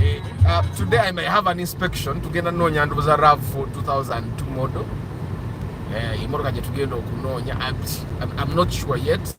Eh, uh, today I may have an inspection tugenda noonya ndoboza rav 2002 model eh, emotoka gyetugenda okunoonya I'm, I'm not sure yet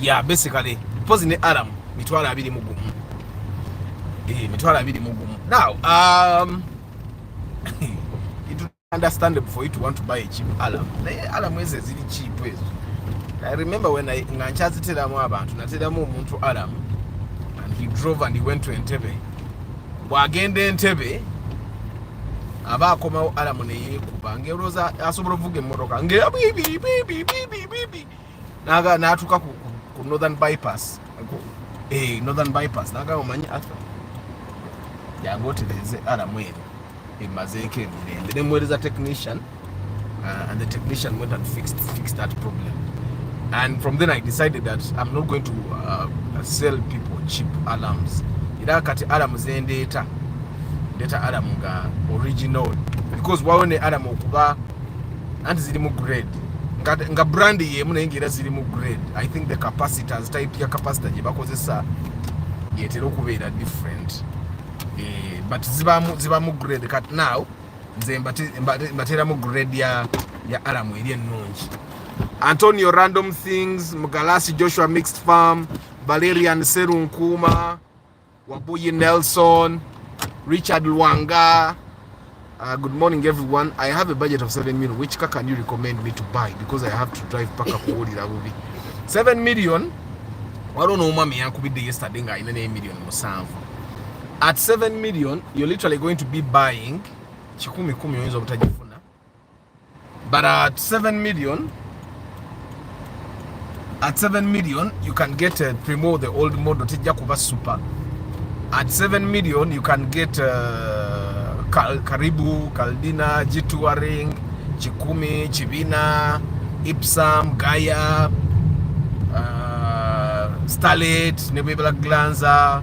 ya basically pozi ne aram mitwalo abiri mu gumu eh, mitwalo abiri mu gumu now um, it is understandable for you to want to buy a cheap alarm naye alarm ezo eziri cheap ezo i remember when I nga nkyaziteramu abantu nateramu omuntu alarm and he drove and he went to entebe bwagenda entebe aba akomawo alamu neyekuba ngeolooza asobola okuvuga emmotoka ngebibibibibibibi natuuka ku northern bypass eh, northern bypass naga omanyi arthur yange otereeze alamu eno emazeeko emirembe nemuweereza technician Uh, and the technician went and fixed, fixed that problem. And from then I decided that I'm not going to uh, sell people cheap alarms. Ila kati alarm zendeeta data alarm nga original because wawo ne alarm okuba anti ziri mu grade nga, nga brand yemu naye ngaera ziri mu grade i think the capacitors type ya capacitor gye bakozesa yetera okubeera different eh, but zibamu zibamu grade kat now nze mbateeramu grade ya ya alamu eri ennungi antonio random things mugalasi joshua mixed farm valerian serunkuuma wabuyi nelson richard lwanga Uh, good morning everyone i have a budget of 7 million which car can you recommend me to buy because i have to drive paka kuwulira bubi 7 million waliwo n'omwami yankubidde yesterday ng'alina n'emillioni musanvu at 7 million you're literally going to be buying kikumi kumi oyinza obutajifuna but at 7 million at 7 million you can get a primo the old model tejja kuba super at 7 million you can get a uh, Kal karibu kaldina jituaring chikumi chibina ipsam gaya uh, starlet nebwebela glanza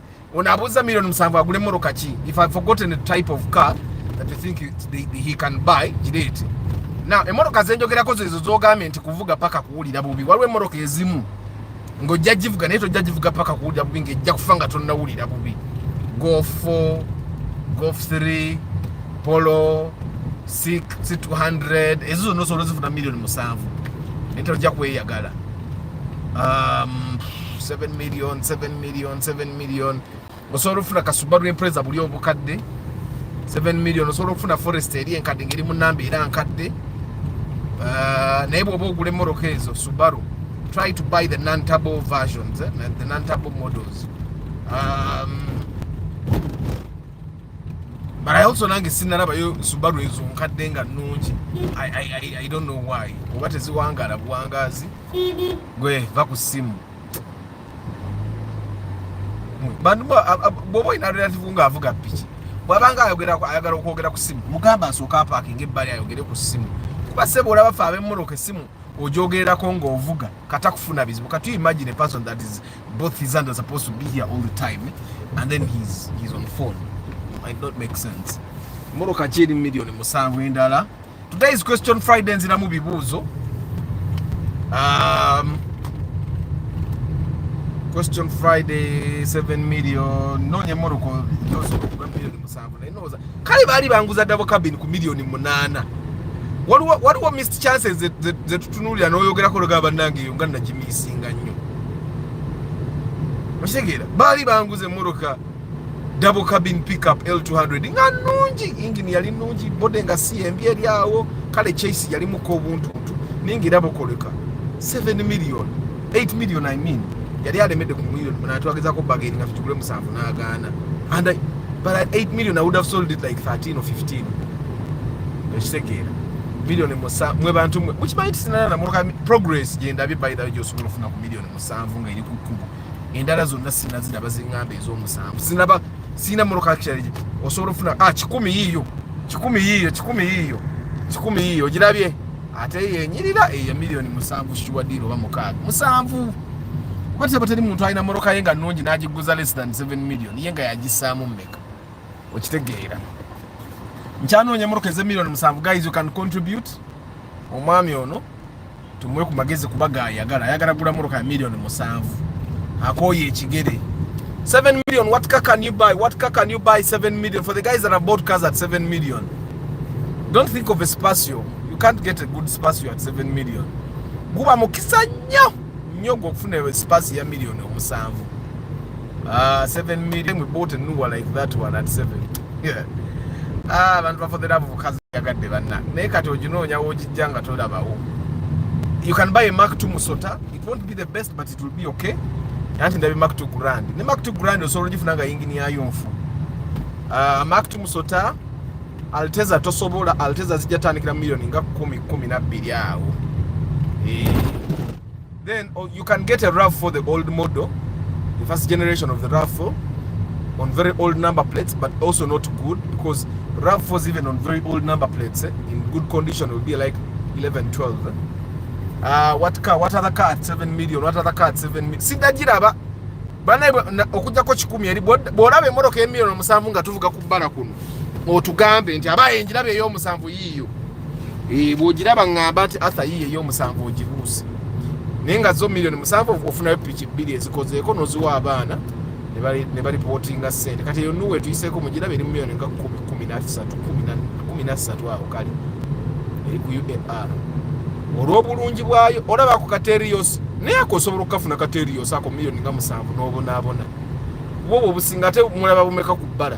Ono abuza million musanvu agule moroka ki? If I've forgotten the type of car that you think it, they, they, he can buy, jireete. Now, emoroka zenjogerako zezo zogambye nti kuvuga paka kuwulira bubi. Waliwo emoroka ezimu ng'ojja givuga naye tojja givuga paka kuwulira bubi ng'ejja kufa nga tonnawulira bubi. Golf 4, Golf 3, Polo, Sik, C200, ezo zonna osobola ozifuna million musanvu. Naye tojja kweyagala. Um, 7 million 7 million 7 million osobola okufuna kasubaru empreza buli obukadde 7 million osobola okufuna forest eri enkadde ngeri mu namba era nkadde uh, naye bwoba ogula emmotoka ezo subaru try to buy the non-turbo versions, eh? the non-turbo models. Um, but I also nange sinalaba yo Subaru ezo nkadde nga nnungi I, I, I, I don't know why oba teziwangaala buwangaazi gwe va ku simu bantu bwoba olina relative nga avuga piki bwabanga ayagala okwogera ku simu mugamba asooka apakinga ebbali ayogere ku simu kuba sebo olaba fe abemmotoka esimu ojogererako ngaovuga kata kufuna bizibu kati you imagine a person that is both his hand are supposed to be here all the time and then he's, he's on phone might not make sense mmotoka ki eri millioni musanvu endala today's question friday nziramu bibuuzo um, question friday 7 million nonya moroko nozo kuba million musanvu naye noza kale baali banguza dabo cabin ku million munana waliwo waliwo missed chances ze tutunulira n'oyogerako loga bannange eyo nga nagimisinga nnyo okitegeera baali banguza emmoroka double cabin pickup L200 nga nungi engine yali nungi bode nga si embi eri awo kale chase yali muko obuntu ntu ningi rabo koleka 7 million 8 million i mean yali alemede ku million na twageza ko bageri na fitukule musanvu na agana and I, but at 8 million i would have sold it like 13 or 15 ekitegeera million musa mwe bantu mwe which might sinana na progress yenda bi by the way josukulu funa ku million musanvu nga iri ku kubo endala zonna sinaziraba zingamba ez'omusanvu sinaba sirina mmotoka kiralije osobola ofuna a ah, kikumi yiiyo kikumi yiiyo kikumi yiiyo kikumi yiiyo ogirabye ate yenyirira eya miliyoni musanvu shuwadiro oba mukaaga musanvu kuba teba teri muntu alina mmotoka ye nga nnungi n'agiguza less than 7 million ye nga yagissaamu mmeka okitegeera nkyanoonya emmotoka ez'emiliyoni musanvu guys you can contribute omwami ono tumuwe ku magezi kuba gayagala ayagala gula motoka ya milioni musanvu akooye ekigere 7 million what car can you buy what car can you buy 7 million for the guys that have bought cars at 7 million don't think of a spatio you can't get a good spatio at 7 million guba mukisa nnyo nnyo gwokufuna spasi ya milioni omusanvu Ah, 7 million we bought a new one like that one at 7. Yeah. Ah, abantu bafo the love of kazi yagadde banna. Naye kati oginoonya wogijja nga tolabawo. You can buy a Mark 2 Musota. It won't be the best but it will be okay. Anti ndabe Mark 2 Grand. Ne Mark 2 Grand osobola ogifuna nga yingini yayo nfu. Ah, Mark 2 Musota Alteza tosobola Alteza zijja tandikira million nga 10 12 awo. Eh. Then oh, you can get a RAV4 the old model, the first generation of the RAV4 on very old number plates but also not good because RAV4s even on very old number plates eh, in good condition will be like 11 12 eh. uh, what car what other car at 7 million what other car at 7 million sidagiraba banaye okujjako kikumi eri bw'olaba emmotoka emiliyoni omusanvu nga tuvuga ku bbala kuno otugambe nti aba enjiraba ey'omusanvu yiiyo eh, bwogiraba ngamba nti atha yiye eyomusanvu ogibuuse naye nga zo millioni musanvu ofunayo piki bbiri ezikozeeko noziwa abaana ne balipotinga sente kati eyo nuwe tuyiseeko mugiraba eri millioni nga kumi nasatu kumi nasatu awo kale eri ku uar olw'obulungi bwayo olaba ku katerios naye ako osobola okukafuna katerios ako millioni nga musanvu n'obonaabona bwoba obusinga ate mulaba bumeka ku bbala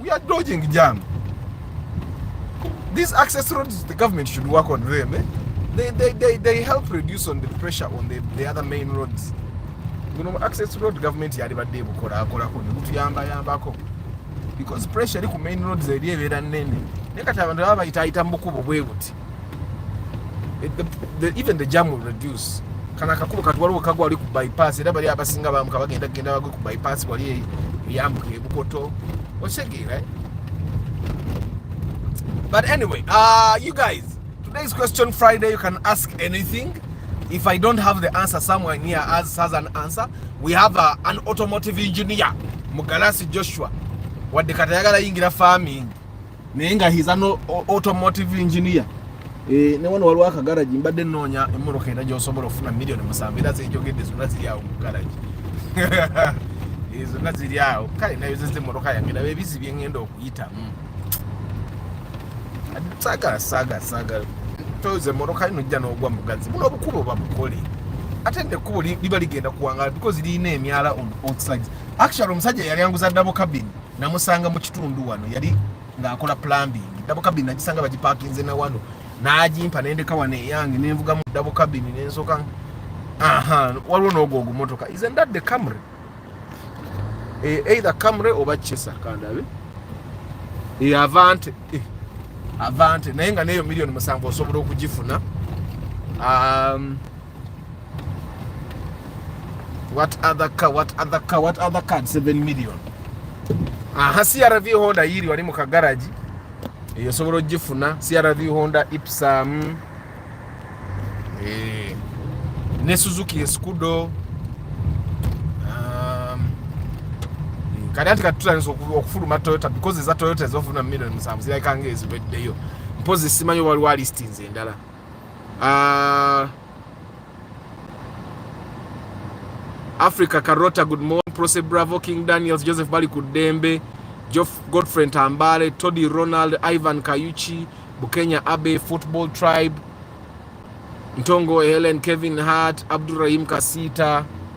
We are dodging jam. These access roads, the government should work on them. Eh? They, they, they, they help reduce on the pressure on the, the other main roads. You know, access road government yali badde bukola akola ko nibutu yamba yamba ko because pressure eri ku main roads eri ebera nene ne kati abantu baba bayita ayita mu bukubo bwebuti It, the, the, even the jam will reduce kana akakubo kati waliwo kagwa wali ku bypass era bali abasinga bamuka bagenda genda bagwe ku bypass wali yambuka ebukoto osegeera eh? but anyway uh, you guys today's question friday you can ask anything if i don't have the answer somewhere near us has an answer we have a, uh, an automotive engineer mugalasi joshua wadde kati ayagala yingira farming naye nga he's an automotive engineer eh ne wano walwa ka garage mbadde nonya emoroka enda gyosobola ofuna million musanvu era zijogedde zonna ziri awo mu garage ezo eh, naziri awo kale nayo zeze moroka yange nabe bizi byengenda okuyita mm. saga saga saga toze moroka ino jja n'ogwa mugazi buno obukubo babukole ate nekubo liba ligenda kuwangala because lirina emyala on both sides actually omusajja yali anguza dabo cabin namusanga mu kitundu wano yali ng'akola plumbing dabo kabini nagisanga bagipakinze na wano n'agimpa nendeka wano eyange nenvuga mu dabo kabini nensoka aha waliwo n'ogwo ogumotoka isn't that the camry e, either camry oba chesa kandabe e, avante e, avante naye nga neyo million musanvu osobola okugifuna um, What other car? What other car? What other car? 7 million. Aha, CRV Honda yiri wali mu kagaraji eyo sobola ogifuna CRV Honda Ipsum eh, ne Suzuki Escudo um, kati ati katutandisa okufuluma Toyota because eza Toyota ezofuna million musanvu zirabika nga eziweddeyo mpozi simanyi waliwo alistinzi endala Uh, Africa Carota, good morning. Prose Bravo, King Daniels, Joseph Bali Kudembe, Geoff Godfrey Tambale, Toddy Ronald, Ivan Kayuchi, Bukenya Abe, Football Tribe, Ntongo Helen, Kevin Hart, Abdurrahim Kasita,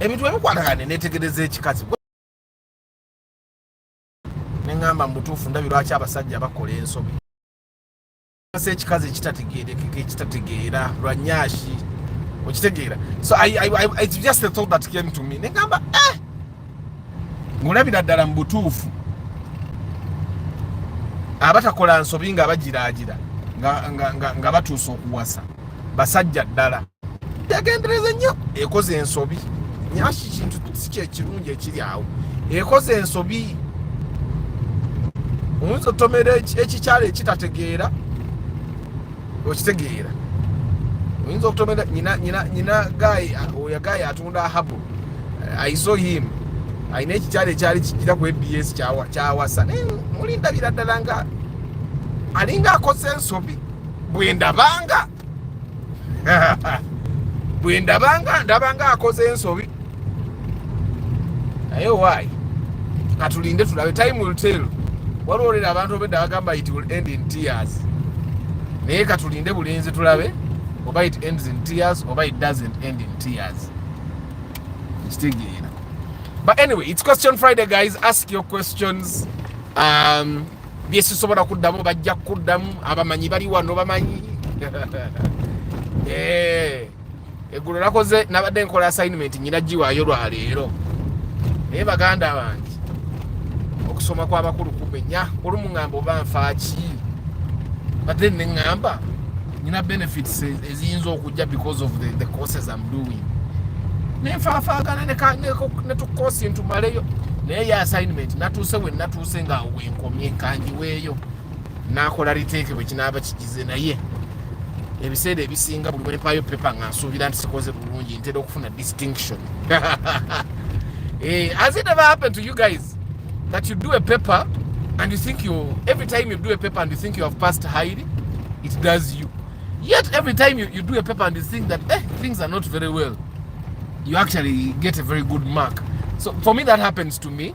ebintu webikwatagane netegereza ekikazi neŋamba mubutuufu ndabi lwaki abasajja bakola ensobi asa ekikazi ekitategeerekeka ekitategeera lwa nyashi okitegeera so it's just the thought that came to me neŋamba eh! ng'olabira ddala mu butuufu abatakola nsobi nga bagiraagira nga batuusa okuwasa basajja ddala yagendereza nnyo ekoze ensobi nyaki kintu si kyekirungi ekiri awo ekoze ensobi oyinza otomera ekikyalo ekitategeera okitegeera oyinza okutomera nyina nyina nyina gayi oyo gayi atunda ahabu i saw him alina ekikyalo ekyali kijira ku abs kyawasa naye muli ndabira ddala nga alinga akoze ensobi bwendabanga bwendabanga ndabanga akoze ensobi naye owaayi katulinde tulabe time will tell waliwo olera abantu obedda bagamba it will end in tears naye katulinde bulinzi tulabe oba it ends in tears oba it doesn't end in tears kitegeera but anyway it's question friday guys ask your questions um, byesisobola kuddamu bajja kuddamu abamanyi bali wano bamanyi eh. eggulo nakoze nabadde nkola assignment nyina giwaayo lwaleero naye baganda bange okusoma kwabakulu kumenya olumu ŋamba oba nfaaki but then neŋamba nyina benefits eziyinza okujja because of the, the courses am doing nenfaafaagana netukosi ntumaleyo naye ye assignment natuuse we natuuse ngaawo wenkomye kangiweeyo nakola riteeke bwe kinaaba kigize naye ebiseera ebisinga buli bwempaayo pepa nga nsuubira nti sikoze bulungi ntera okufuna distinction eh, has it ever happened to you guys that you do a paper and you think you every time you do a paper and you think you have passed highly it does you yet every time you, you do a paper and you think that eh, things are not very well you actually get a very good mark so for me that happens to me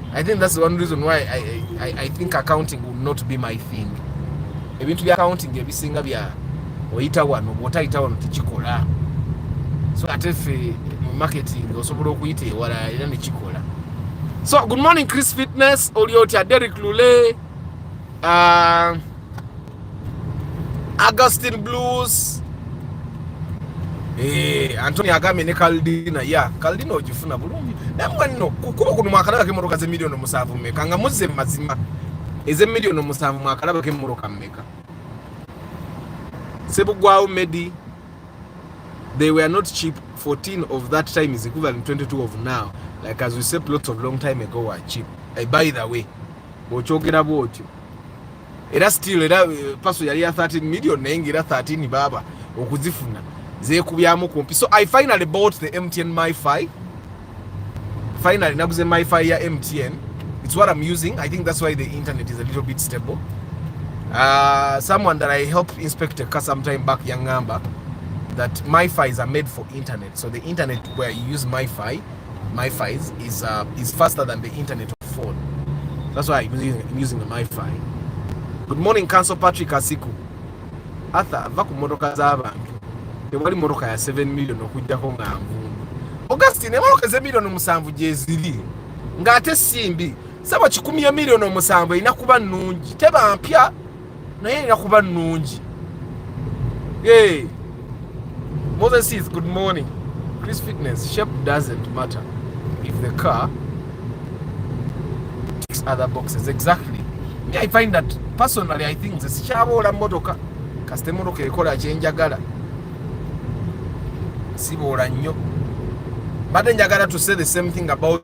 I think that's one reason why I, I, I think accounting will not be my thing. Ebintu bya accounting ebisinga bya oyita wano bwotayita wano tekikola. So ate ffe mu marketing osobola okuyita ewala era nekikola. So good morning Chris Fitness, oli otya Derek Lule. Uh, Augustine Blues eh Anthony Agame ne Caldina ya Caldina ojifuna bulungi namwe no kukuba kuno mwakalaba ke moroka ze milioni musavu meka nga muze mazima eze milioni musavu mwakalaba ke moroka meka Sebugwawo Medi they were not cheap 14 of that time is equivalent 22 of now like as we said lots of long time ago were cheap I eh, by the way bwokyogera bwotyo era still era eh, paso yali ya 13 million naye nga era 13 baaba okuzifuna zekubyamu kumpi so i finally bought the mtn myfi finally naguze myfi ya mtn it's what i'm using i think that's why the internet is a little bit stable uh, someone that i helped inspect a car sometime back yangamba that myfis are made for internet so the internet where you use myfi MiFi is, is, uh, is faster than the internet of phone. That's why I'm using, I'm using the MiFi. Good morning, Council Patrick Asiku. Arthur, va ku motoka z'abantu. Tewali motoka ya 7 million okujjako nga nvundu. Augustine, emotoka ze million musanvu gyeziri. Ng'ate simbi. Sabo kikumi ya million omusanvu erina kuba nnungi. Teba mpya. naye erina kuba nnungi hey. Moses is good morning Chris fitness shape doesn't matter if the car ticks other boxes exactly me I find that personally I think nze sikyaboola mmotoka kasita emmotoka ekola kyenjagala siboola nnyo mbadde njagala to say the same thing about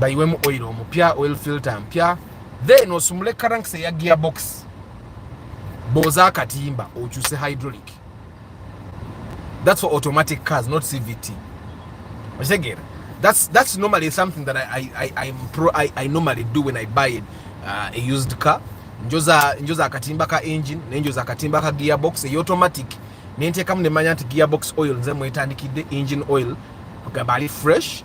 bayiwemu oil omupya oil filter mpya then osumule karanks eya gearbox booza akatimba okyuse hydraulic that's for automatic cars not cvt okitegera that's, that's normally something that I, I, I, I'm pro, I, I normally do when i buy it, uh, a used car njoza njoza akatimba ka engine nenjoza akatimba ka gearbox eya automatic nenteekamu nemanya nti gearbox oil nze mwetandikidde engine oil kugamba ali fresh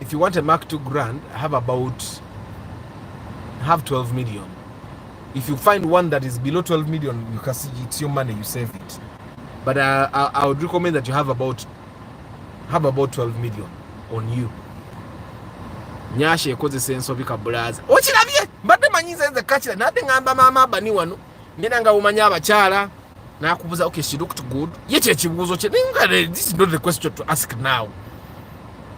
If you want a Mark 2 Grand, have about have 12 million. If you find one that is below 12 million, you can see it's your money, you save it. But I, I, I would recommend that you have about have about 12 million on you. Nyasha ekoze senso bika bulaza. Okirabye? Mbadde manyi nze nze kakira nade ngamba mama abani wano. ngenda nga bumanya abakyala nakubuza okay she looked good ye kyekibuuzo kye naye this is not the question to ask now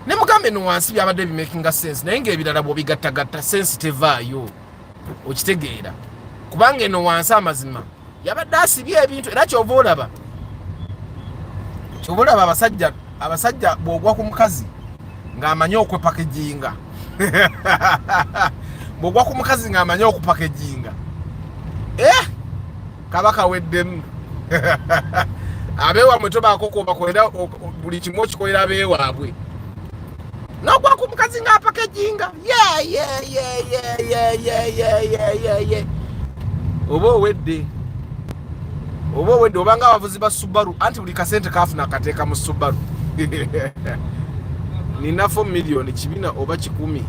ne mugambe no wansi byabadde bimakinga sense naye ngaebirala bwobigattagatta sense tevaayo okitegeera kubanga eno wansi amazima yabadde asibye ebintu era kyova olaba kyova olaba abasajja abasajja bwogwa ku mukazi ng'amanyi okwepakejinga bwogwa ku mukazi ng'amanyi okupakejinga eh kaba kaweddemu abeewamwe tobaako kwobakolera buli kimu okikolera abeewaabwe nogwa ku mukazi nga apaka ejinga yeyeyeyeyeyeyeyeye oba owedde oba owedde obanga abavuzi ba subaru anti buli kasente kafuna akateeka mu subaru nina 4 million kibina oba kikumi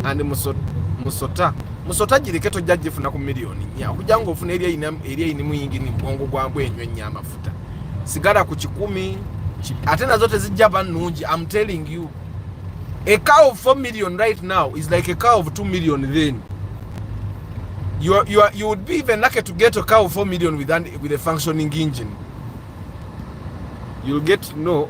and musota musota, musota jireke tojja jifuna ku million nya okujja nga ofuna eri eri eri muyingi ni bwongo gwa mbwe enyo nyama sigala ku kikumi ate nazo tezijja ba nungi am telling you a car of 4 million right now is like a car of 2 million then you, are, you, are, you would be even lucky to get a car of 4 million with, an, with a functioning engine you'll get no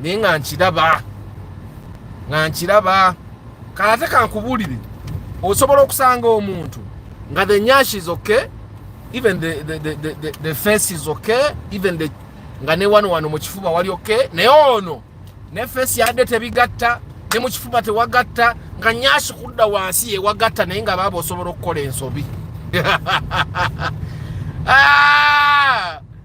naye nga nkiraba nga nkiraba kalate kankubuulire osobola okusanga omuntu nga the nyash is okay even the, the, the, the, the, the face is okay even the nga ne wano wano mu kifuba wali okay naye ono ne face yadde tebigatta ne mu kifuba tewagatta nga nyashi kudda wansi yewagatta naye nga baaba osobola okukola ensobi ah!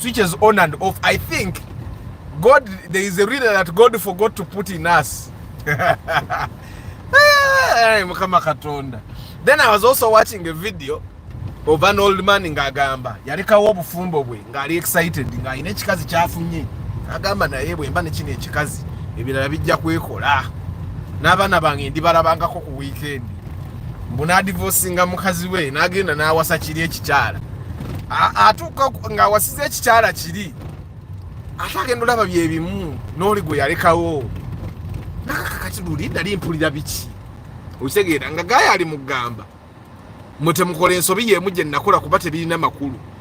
switches on and off i think god there is a reader that god forgot to put in us hey, mukama katonda then i was also watching a video of an old man ng'agamba yalekawo obufumbo bwe ng'ali excited ng'alina ekikazi kyafunye agamba naye bwemba nekino ekikazi ebirala bijja kwekola n'abaana bange ndibalabangako ku wiikendi mbu nadivosinga mukazi we nagenda nawasa kiri ekikyala atuuka ng'awasiza ekikyala kiri ate agenda olaba byebimu n'oli gwe yalekawo nakakakati luli nali mpulira biki okitegeera nga gaayo ali mugamba mwe temukola ensobi yeemu gye nakola kuba tebirina makulu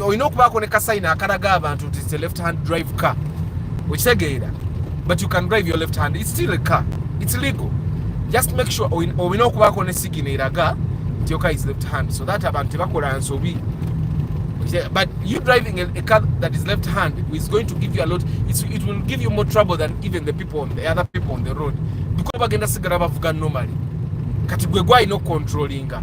olina okubaako ne kasayina akalaga abantu nti its a left hand drive car okitegeera but you can drive your left hand its still a car its legal just make sure olina okubaako ne sigina eraga nti yoka is left hand so that abantu tebakola nsobi but you driving a, a car that is left hand is going to give you a lot it's, it will give you more trouble than even the people on the other people on the road because bagenda sigala bavuga normally kati gwe gwalina okucontrollinga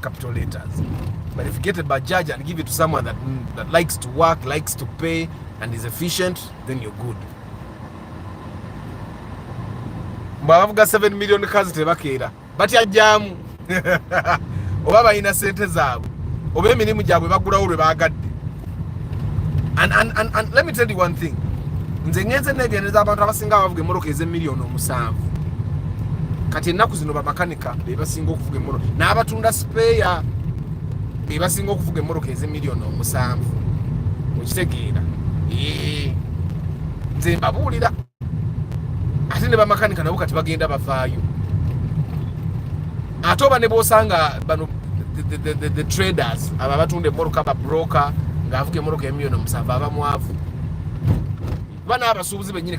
capital letters. But if you get a Bajaj and give it to someone that, that likes to work, likes to pay, and is efficient, then you're good. mwabavuga 7 million kazi tebakeera batya jamu oba balina sente zaabwe oba emirimu gyabwe bagulawo lwe baagadde and, and, and, and let me tell you one thing nze ngenze negendereza abantu abasinga abavuga emmotoka ez'emiliyoni omusanvu kati ennaku zino bamakanika bameka bebasinga okuvuga emmotoka n'abatunda sipeeya bebasinga okuvuga emmotoka eze miliyoni omusanvu okitegeera nze mbabuulira ate ne bamakanika nabo kati bagenda bavaayo ate oba ne bwosanga bano the traders abo abatunda emmotoka babroka ng'avuga emmotoka emiliyoni omusanvu abamwavu kuba n'abasuubuzi bennyini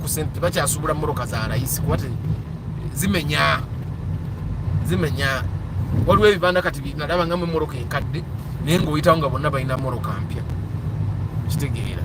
kusente tebakyasuubula mmotoka za layisi kuba zimenya zimenya waliwo ebibanda kati nalaba nga mu mmotoka enkadde naye ngaoyitawo nga bonna balina mmotoka mpya kitegeera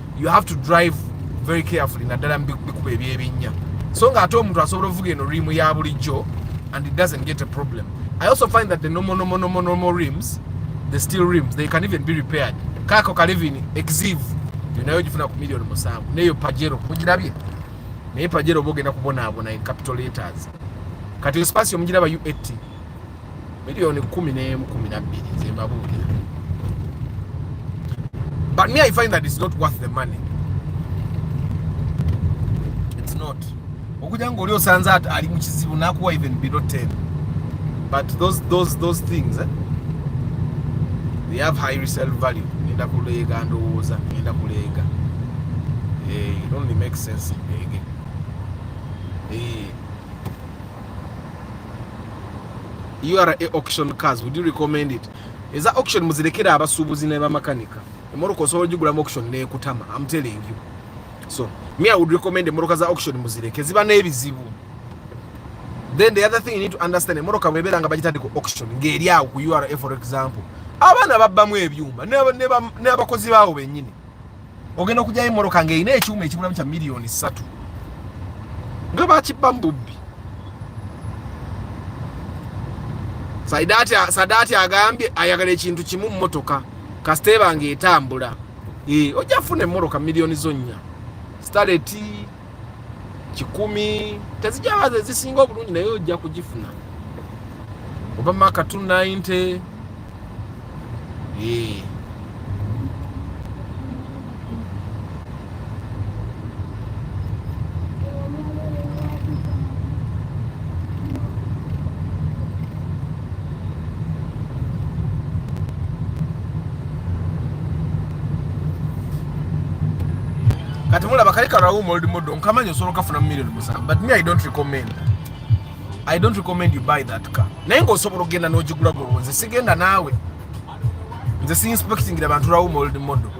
you have to drive very carefully naddala mubikuba ebyebinnya so nga ate omuntu asobola ovuga eno rimu ya bulijjo and it doesn't get a problem i also find that the normal normal normal normal rims the steel rims they can even be repaired kako kalivini exive nayo ogifuna ku million musanvu neyo pajero mugirabye naye pajero oba ogenda kubonaabona in capital letters kati espacio mugiraba u80 Milioni kumi n'emu kumi na bbiri nze mbabuulira. But me I find that it's not worth the money. It's not. Okuja ng'oli osanze ali mu kizibu nakuwa even below 10. But those those those things eh? They have high resale value. Ngenda kuleega ndowooza, ngenda kuleega. Eh, it only makes sense. Hey. ura auction cars would you recommend it eza auction muzirekera abasuubuzi ne bamakanika emoroka osobola ogigulamu auction nekutama am telling you so me i would recommend emoroka za auction muzireke ziba n'ebizibu then the other thing you need to understand emoroka bwebeera nga bagitadde ku auction ng'eri awo ku ura for example abaana babbamu ebyuma n'abakozi baawo bennyini ogenda okugyayo emmotoka ng'erina ekyuma ekibulamu kya miliyoni ssatu nga bakibba mu bubbi sadaati agambye ayagala ekintu kimu mmotoka kasita ebanga etambula eh, ojja funa emmotoka miliyoni zonnya stareti kikumi tezijabaza ezisinga obulungi naye ojja kugifuna oba maka 290 ee kati mulaba kali karawuma old model nkamanyi osobola okafuna mu million musanvu but me i don't recommend i don't recommend you buy that car naye ngaosobola okugenda n'ogigula gwe nze sigenda naawe nze si inspectingira bantu rawuma old model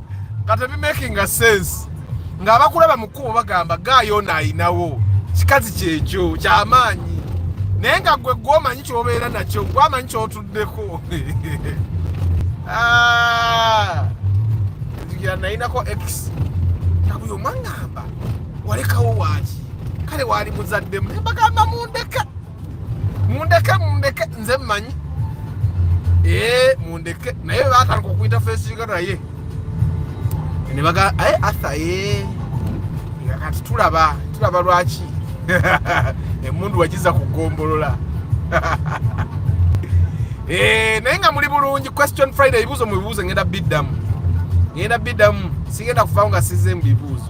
nga tebimakinga sense nga abakulaba mu kkubo bagamba gaayo ono ayinawo kikazi kyekyo kyamaanyi naye nga gwe gwomanyi kyobeera nakyo gwamanyi kyotuddeko ah, nayinako x nabuyo mwangamba walekawo waaki kale waali muzaddemu nembagamba mundeka mundeke mundeke nze mmanyi ee eh, mundeke naye batandika okuyita fesinga naye nebaga aye eh, atha ee eh. nga kati tulaba tulaba lwaki emundu wagiza ku gombolola Eh, naye nga muli bulungi question friday ebibuuzo mu bibuuzo ngenda biddamu ngenda biddamu sigenda kuvaawo nga sizze mu bibuuzo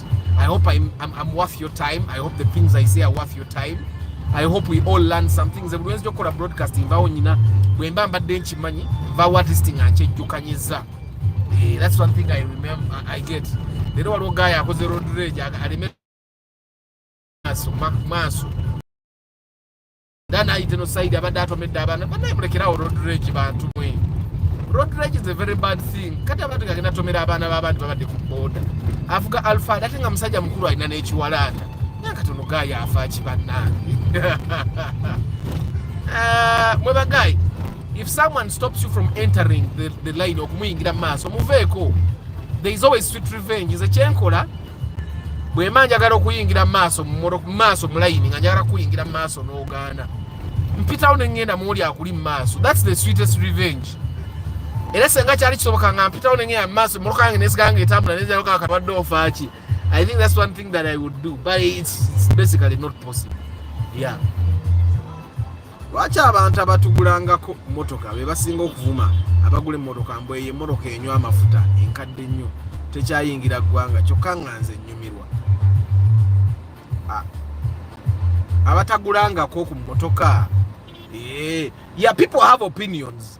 I hope I'm, I'm, I'm worth your time. I hope the things I say are worth your time. I hope we all learn some things. Buli wenzi jokola broadcasting vawo nyina bwemba mbadde nkimanyi vawo at least nga nkyejjukanyiza. Eh, that's one thing I remember I get. Leero waliwo guy akoze road rage aleme maaso maaso era nayite no saidi abadde atomedde abaana banaye mulekerawo road rage bantu mwe road rage is a very bad thing kati abantu gagenda tomera abaana babandi babadde ku boda avuga alfad ate nga musajja mukulu alina n'ekiwalaata naye kati ono gaayi afa ki bannange ah, mwe bagayi if someone stops you from entering the, the line okumuyingira mu maaso muveeko there is always sweet revenge nze kyenkola bwemba njagala okuyingira mumaaso mumaaso mulayini nga njagala kuyingira mumaaso nogaana mpitawo nengenda muoli akuli mumaaso thats the sweetest revenge era senga kyali kisoboka nga mpitawo nengenda mumaaso emotoka yange nesiganga etambula nenjaloka katabadde ofaaki i think thats one thing that i would do but it's, it's basically not possible yeah lwaki abantu abatugulangako motoka bebasinga okuvuma abagula emotoka mbu eyo emotoka enywa amafuta enkadde nnyo tekyayingira ggwanga kyokka nga nze nnyumirwa abatagulangako ku motoka eh, ya people have opinions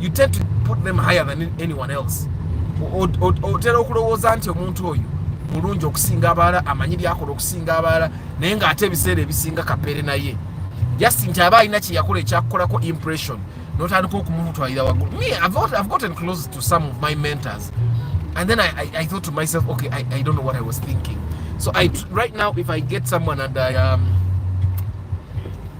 you tend to put them higher than anyone else otera okulowooza nti omuntu oyo mulungi okusinga abalala amanyi byakola okusinga abalala naye ng'ate ebiseera ebisinga kapere naye just nti aba alina kyeyakola ekyakukolako impression notandika okumutwalira waggulu me I've, I've gotten close to some of my mentors and then I, I, I thought to myself okay I, I don't know what I was thinking so I, right now if I get someone and I um,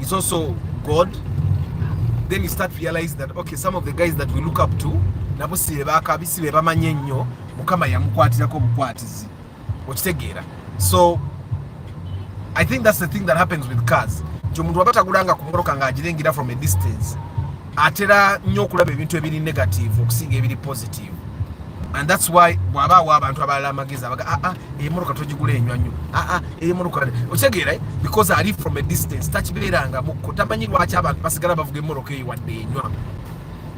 is also God then you start realizing that okay some of the guys that we look up to nabo si be bakabi si be bamanyi ennyo mukama yamukwatirako obukwatizi okitegeera so i think that's the thing that happens with cars nti omuntu waba tagulanga ku mmotoka ng'agirengera from a distance atera nnyo okulaba ebintu ebiri negative okusinga ebiri positive and thats why bwaba awa abantu abalala amagezi abaga aa ah, ah, emotoka togigula enywa nnyo aa ah, emotoka okitegeera eh? because ali from a distance takibeeranga mukko tamanyi lwaki abantu basigala bavuga emotoka eyo wadde enywa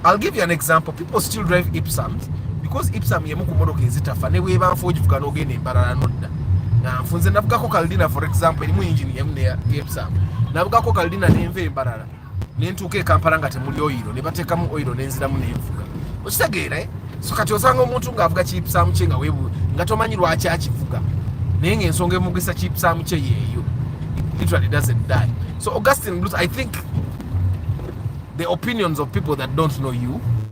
i'll give you an example people still drive ipsams because ipsam yemu ku motoka ezitafa ne bweba nfa ogivuga n'ogenda embalala nodda nfunze navugako kaldina for example erimu engine yemu ne ipsam navugako kaldina nenva embalala ne ntuuka e kampala nga temuli oyiro ne bateekamu oyiro ne nziramu ne nvuga okitegeera eh? so kati osanga omuntu ng'avuga kiipusaamu kye nga webu nga tomanyi lwaki akivuga naye ng'ensonga emugisa kiipusaamu kye yeeyo literally doesn't die so augustin bluth i think the opinions of people that don't know you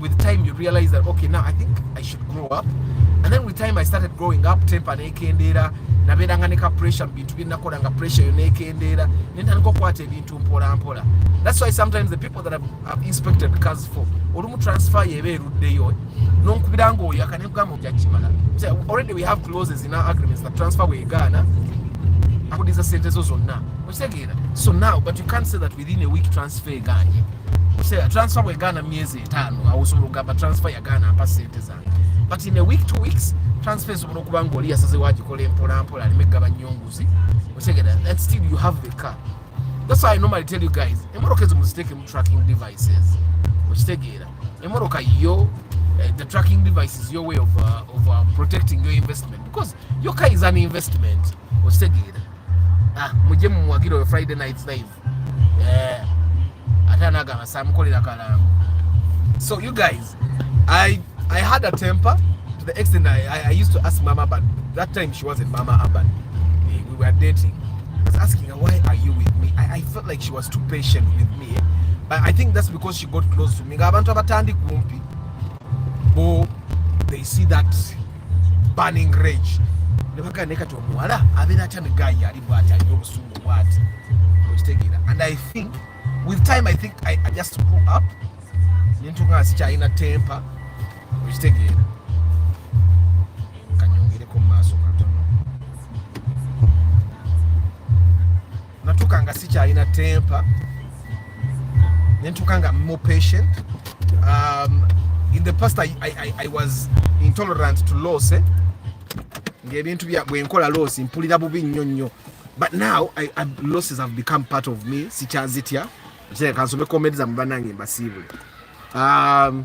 with time you realize that okay now i think i should grow up and then with time i started growing up temper nekendeera nabeeranga ne ka pressure mu bintu byenakola nga pressure yo nekendeera ne ntandika okukwata ebintu mpola mpola that's why sometimes the people that have inspected cars for olumu transfer yeba eruddeyo nonkubira nga oyaka nekugamba ojakimala already we have clauses in our agreements that transfer wegaana akudiza sente zo zonna okitegeera so now but you can't say that we within a week transfer eganye say transfer we gana miezi etano awo so lugamba transfer ya gana apa sente za but in a week two weeks transfer so no kubanga oli asaze waji kole mpola mpola ali megaba nyonguzi otegera that still you have the car that's why i normally tell you guys emoroka ezo muziteke mu tracking devices okitegera emoroka yo uh, the tracking device is your way of, uh, of uh, protecting your investment because your car is an investment okitegera ah mujje mumuwagire oyo friday night live eh ate anagamba samukolera kalango so you guys i i had a temper to the extent i i, I used to ask mama but that time she wasn't mama urban eh, we were dating i was asking her why are you with me i, I felt like she was too patient with me eh? but i think that's because she got close to me ngabantu abatandi kumpi bo they see that burning rage ne bagamba naye kati omuwala abeera atya ne gayi ali bwati alina obusungu bwati okitegeera and i think with time i think i, I just grew up nentuka nga sikyalina tempa okitegeera natuka nga sikyalina temper nentuka nga more patient um, in the past I, I, I, I was intolerant to loss eh? ngaebintu bwenkola loss mpulira bubi nnyo nnyo but now I, I, losses have become part of me sikyazitya kansome komedi zamwe banange mbasiibule um,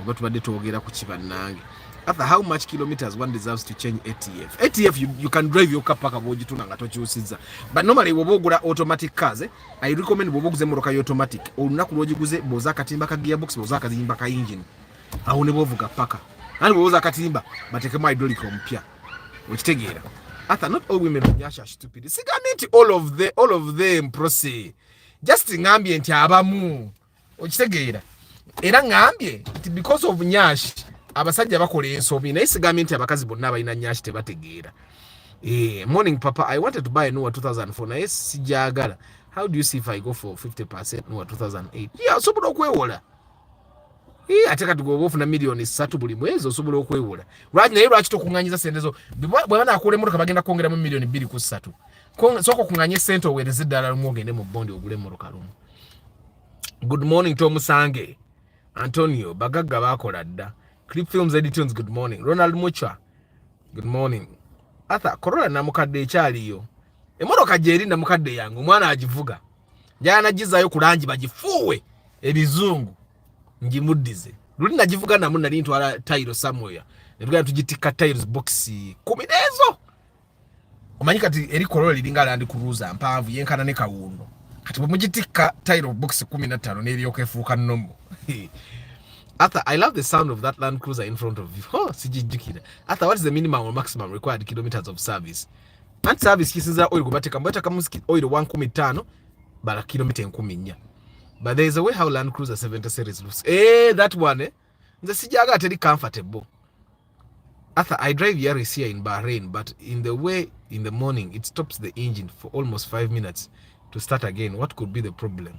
oba tubadde twogera ku kibannange after how much kilometers one deserves to change atf atf you, you can drive your car paka bwogituna nga tokyusizza but normally bwoba ogula automatic cars eh, i recommend bwoba oguze emmotoka ya automatic olunaku lwogiguze bwoza akatimba ka gearbox bwoza akazimba ka engine awo ne bwovuga paka nani bwoza akatimba batekemu hydraulic omupya okitegeera atha not all women onyasha stupid sigambye nti all of the all of them proce just ngambye nti abamu okitegeera era ngambye nti because of nyashi abasajja bakola ensobi naye sigambye nti abakazi bonna abalina nyashi tebategeera eh, morning papa i wanted to buy a nuwa 2004 naye sijagala how do you see if i go for 50 percent nuwa 2008 yeah osobola okwewola eh, ate kati gwoba ofuna miliyoni satu buli mwezi osobola okwewola lwaki naye lwaki tokuŋanyiza sente zo bweba nakuula emotoka bagenda kwongeramu miliyoni bbiri ku ssatu sooka okuŋanye sente owereze eddala lumu ogende mu bondi ogule emotoka lumu good morning to musange antonio bagagga bakola dda clip films editunes good morning ronald mucha good morning arthur corola namukadde ekyaliyo emotoka gyeri namukadde yange omwana agivuga njala nagizayo ku langi bagifuuwe ebizungu ngimuddize luli nagivuga namu nali ntwala tayiro samoya netugenda tugitikka tayiro bokisi kumi nezo omanyi kati eri kolola liringa landi kuruza mpavu yenkana ne kawundo kati bwemugitikka tire of books kumi na ttaano n'eryoka efuuka nomo Arthur, I love the sound of that Land Cruiser in front of you. Oh, sijijjukira. Arthur, what is the minimum or maximum required kilometers of service? And service kisinzira oil kubateka mbweta kama oil 115 bala kilomita 14. But there is a way how Land Cruiser 70 series looks. Eh, that one eh. nze sijaga ateri comfortable Arthur, I drive Yaris here in Bahrain, but in the way in the morning, it stops the engine for almost five minutes to start again. What could be the problem?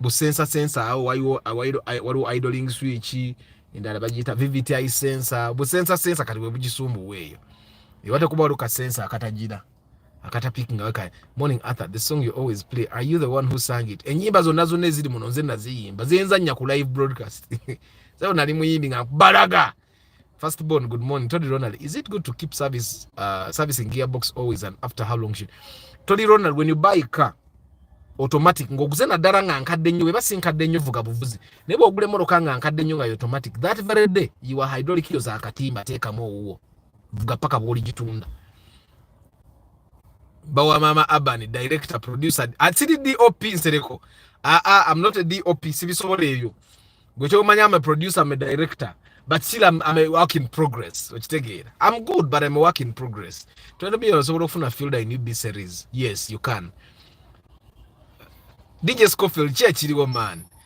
busensa sensa awo waliwo waliwo idling switch endala bagiyita vvti sensa busensa sensa kati webugisumbuwa eyo ewatekuba waliwo kasensa akatagira akata pick nga weka morning Arthur the song you always play are you the one who sang it enyimba zonna zonna eziri muno nze naziyimba zenzanya ku live broadcast sebo nali muyimbi nga balaga first born good morning Tony Ronald is it good to keep service uh, servicing gearbox always and after how long should Tony Ronald when you buy a car automatic ngoguze naddala nga nkadde nnyo weba si nkadde nnyo vuga buvuzi naye bwogula emmotoka nga nkadde nnyo nga automatic that very day yiwa hydraulic yo zakatimba teekamu owuwo vuga paka bwoligitunda bawa mama urban director producer atiri dop nsereko aa ah, ah, i'm not a dop sibisobola ebyo gwe kyomanya am a producer am a director but still I'm, I'm a work in progress okitegeera i'm good but i'm a work in progress twendobia osobola okufuna field in ub series yes you can dj scofield ki ekiriwo man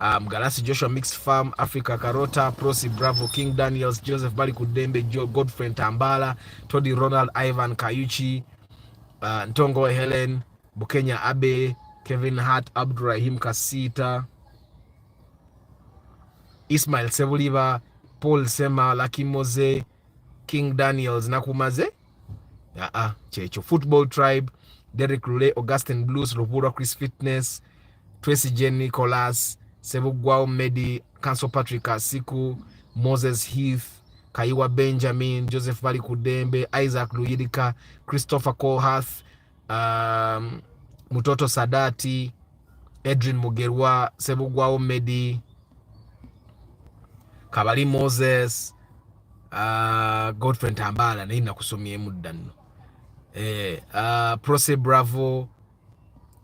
um, Galasi Joshua Mixed Farm, Africa Carota, Prosi Bravo, King Daniels, Joseph Bali Kudembe, Joe Godfrey Tambala, Todi Ronald, Ivan Kayuchi, uh, Ntongo Helen, Bukenya Abe, Kevin Hart, Abdurahim Kasita, Ismail Sebuliba, Paul Sema, Lucky Mose, King Daniels nakumaze aa ah, ah, kyekyo football tribe Derek Lule Augustin Blues Lubura Chris Fitness Tracy Jen Nicholas Sebugwao Medi Council Patrick Asiku Moses Heath Kaiwa Benjamin Joseph Bali Kudembe Isaac Luyirika Christopher Colhath um, Mutoto Sadati, Edrin Mugerwa, Sebugwawo Medi, Kabali Moses, uh, Godfrey Tambala naye nakusomyemu dda nno eh, uh, Proce Bravo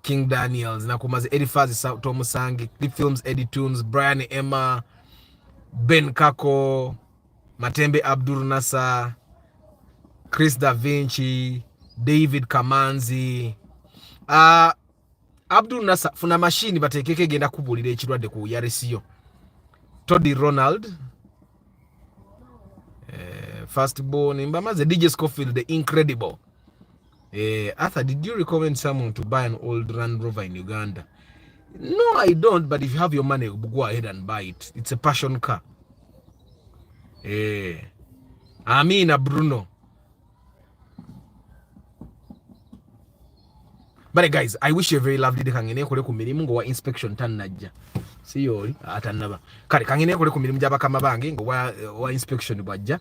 King Daniels nakumaze Elifaz Tomusange Clip Films Eddie Tunes Brian Emma Ben Kako Matembe Abdul Nasser, Chris Da Vinci, David Kamanzi. Uh, Abdul Nasser funa machine batekeke egenda kubulira ekirwadde ku yaresiyo. Toddy Ronald eh, first born mbamaze DJ Scofield the incredible Eh, Arthur, did you recommend someone to buy an old Land Rover in Uganda? No, I don't, but if you have your money, go ahead and buy it. It's a passion car. Eh, Amina Bruno. But guys, I wish you a very lovely day. Kangene kule ku mirimu ngo wa inspection tan najja. Siyoli atanaba. Kale kangene kule ku mirimu jaba kama bange ngo wa, wa inspection bwajja.